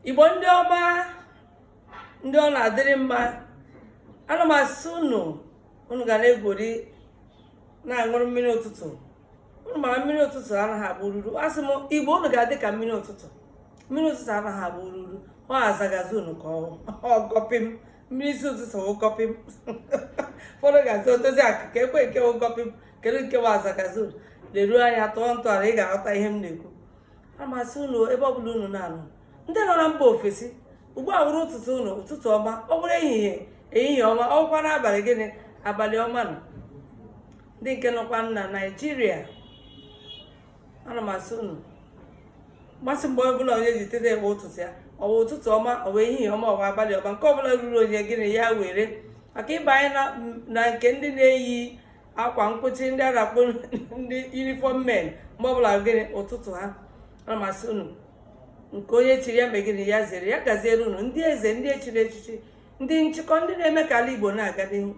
igbo ndị ọma ndị ọ na-adịrị mma ana m asị unu unu ga na-egwuri na-aṅụrụ mmiri ụtụtụ unu mara mmiri ụtụtụ anaghị abụ ruru asị m igbo unu ga-adị ka mmiri ụtụtụ mmiri ụtụtụ anaghị abụ ruru ọ azagazi unu ka ọgọpị m mmiri isi ụtụtụ ụgọpị m ụfọdụ ga-asị odozi akụ ka ekwe nke ụgọpị m kedu nke bụ azagazi unu leruo anya tụọ ntọala ị ga-aghọta ihe m na-ekwu ana m asị unu ebe ọbụla unu na-anọ ndị nọ na mba ofesi ugbu a wụrụ ụtụtụ unu ụtụtụ ọma ọ bụrụ ehihie ehihie ọma ọ bụkwa n'abalị gịnị abalị ọma unu ndị nke nọkwa na naijiria ana m asị unu mmasị mgbe ọbụla onye ji teta abụ ụtụtụ ya ọ wụ ụtụtụ ọma ọ wụ ehihie ọma ọ wụ abalị ọma nke ọbụla ruru onye gịnị ya were maka ị banye na nke ndị na-eyi akwa nkwụchi ndị a na-akpọ ndị uniform men mgbe ọbụla gịnị ụtụtụ ha ana m asị unu nke onye chiri ya mee gịnị ya zere ya gaziere unu ndị eze ndị echiri echichi ndị nchịkọ ndị na-eme ka ala igbo na-aga n'ihu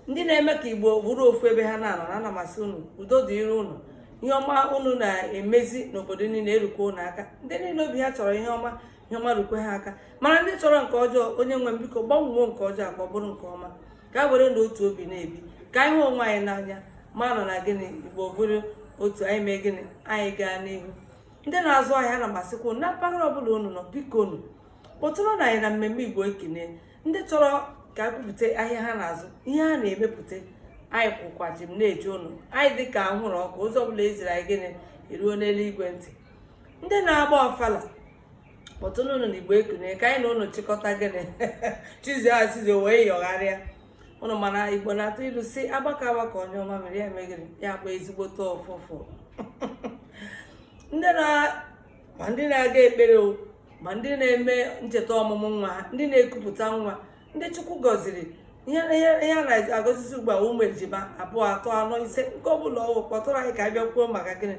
ndị na-eme ka igbo bụrụ ofu ebe ha na-anọ na ana m asị unu udo dịrị unu ihe ọma unu na-emezi n'obodo niile erukwa unu aka ndị niile obi ha chọrọ ihe ọma ihe ọma rukwe ha aka mana ndị chọrọ nke ọjọọ onye nwe m biko gbanwoo nke ọjọọ ka ọ bụrụ nke ọma ka a were na otu obi na-ebi ka anyị hụ onwe anyị n'anya mara na gịnị igbo bụrụ otu anyị mee gịnị anyị gaa n'ihu ndị na-azụ ahịa ana m asịkwa unu na mpaghara ọbụla unu nọ biko unu kpọtụrụ na anyị na mmemme igbo ekunie ndị chọrọ ka a kwupụta ahịa ha na-azụ ihe ha na-emepụta anyị kwụkwa chịm na-eche unu anyị dị ka anwụrụ ọkụ ozi ọbụla e ziri anyị gịnị eruo n'eluigwe ntị ndị na-agba ọfala kpọtụnụ anyị na igbo ekunie ka anyị na ụnụ chịkọta gịnị chizi azizi wee yọgharịa ụnụ mana igbo na-atụ ilu sị agbakọọ agbakọọ nyụọ mamịrị ya mee gịnị ya gbọọ ezigbote ụfụfụ ndị na ma ndị na-aga ekpere o ma ndị na-eme ncheta ọmụmụ nwa ha ndị na-ekupụta nwa ndị chukwu gọziri ihe a na-agọzizi ugbu a ụmụ ejima abụọ atọ anọ ise nke ọ bụla ọ wụ kpọtụrụ anyị ka a bịa kwuo maka gịnị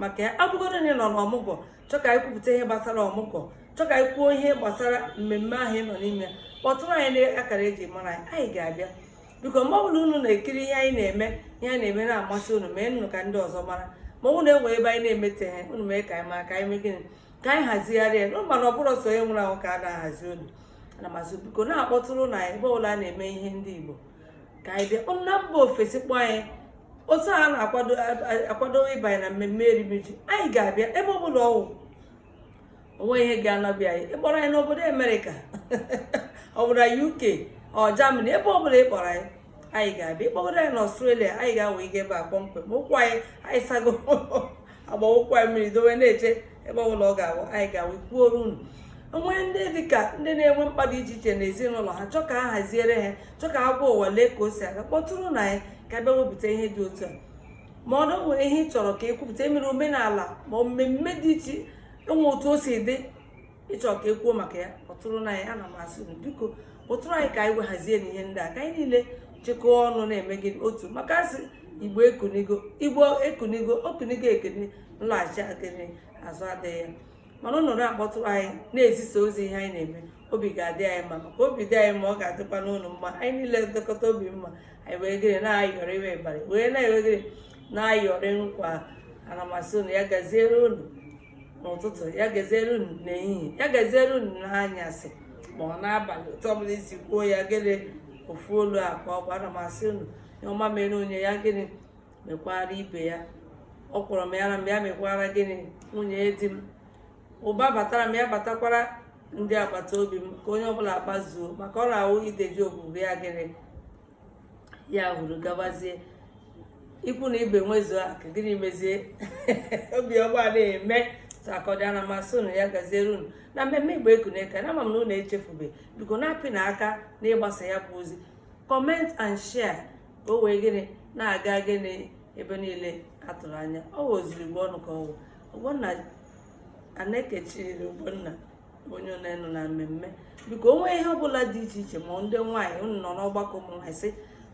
maka ya abụgodo na ị nọ n'ọmụgwọ chọ ka anyị kwupụta ihe gbasara ọmụgwọ chọ ka anyị kwuo ihe gbasara mmemme ahụ ị nọ n'ime kpọtụrụ anyị n'akara eji mara anyị anyị ga-abịa biko mgbe ọ bụla unu na-ekiri ihe anyị na-eme ihe anyị na-eme na-amasị unu meenụ ka ndị ọzọ mara ma ọ na-enwe ebe anyị na-emetaghị unu mee ka anyị mara ka anyị mee gịnị ka anyị hazigharịa na mana ọ bụrụ sọ onye nwụrụ anwụ ka a na-ahazi olu ana m asị biko na-akpọtụrụ anyị ebe ọbụla a na-eme ihe ndị Igbo ka anyị bịa na mba ofesi kpọọ anyị otu a na-akwado ịbanye na mmemme erimeji anyị ga-abịa ebe ọ bụla ọ wụ o nweghị ihe ga-anọbịa anyị ị kpọrọ anyị n'obodo amerịka ọ bụrụ na uk ọ jamani ebe ọ bụla ị kpọrọ anyị anyị ga-abịa ị kpọgodo anyị na ọstrelia anyị ga-awe ike ebe a kpọmkwem ụkwụ anyị anyị sago agbawụkwa ya mmiri dowe na-eche ebe ọbụla ọ ga-awụ anyị ga-awụ kwuoro unu o nwee ndị dịka ndị na-enwe mkpa dị iche iche n'ezinụlọ ha chọọ ka a haziere ha chọọ ka a gwa ụwa lee ka o si aga kpọtụrụnụ anyị ka a bịa wepụta ihe dị otu a ma ọ nwere ihe ị chọrọ ka e kwupụta e mere omenala ma mmemme dị iche e nwee otu o si dị ị chọọ ka e kwuo maka ya kpọtụrụnụ anyị ana m asị unu biko kpọtụrụ anyị ka anyị wee hazie ihe ndị a ka anyị niile chịkọọ ọnụ na-eme gị otu maka a sị igbo ekunigo igbo ekunigo o kunigo ekene nlaghachi akene azụ adịghị ya mana unu na-akpọtụrụ anyị na-ezisa ozi ihe anyị na-eme obi ga-adị anyị mma maka obi dị anyị mma ọ ga-adịkwa unu mma anyị niile dịkọta obi mma anyị wee gịnị na-ayọrọ iwe ịbarị wee na-ewegịrị na-ayọrị nkwa ana m asị unu ya gaziere unu n'ụtụtụ ya gaziere unu n'ehihie ya gaziere unu n'anyasị ma ọ n'abalị otu ọbụla i si kwuo ya gịnị ofu olu a ka ana m asị unu ihe ọma mere onye ya gịnị mekwara ibe ya ọkwụrụ mịara m ya mịakwara gịnị nwunye di m ụba batara m ya batakwara ndị agbata obi m ka onye ọbụla kpazuo maka ọ na-awụ ide ji ogbugbu ya gịnị ya hụrụ gabazie ikwu na ibe nwezuo aka gịnị mezie obiọma na-eme akọda ana m asị unu ya gaziere unu na mmemme igbo ekunie ka na ama m na unu echefube biko na-apịnụ aka n'ịgbasa ya bụ ozi comment and share ka o wee gịnị na-aga gịnị ebe niile a tụrụ anya ọ wụ ozuru igbo ọnụ ka ọ wụ ogbonna anekechiri ogbonna onye nne unu na mmemme biko o nwee ihe ọbụla dị iche iche ma ndị nwaanyị unu nọ n'ọgbakọ ụmụ nwaanyị sị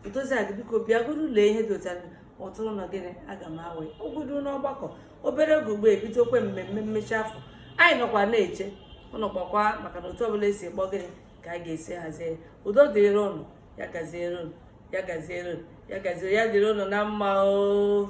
odozi akụ biko bịagodu lee ihe dị otu a kpọtụrụnụ gịnị aga m awe ogodo n'ọgbakọ obere oge ugbu a e bidokwa mmemme mmechi afọ anyị nọkwa na-eche unu kpọọkwa maka na otu ọbụla e si kpọọ gịnị ka a ga-esi hazie udo dịrị unu ya gaziere unu ya gaziere unu ya gaziere ya dịrị unu na mma oo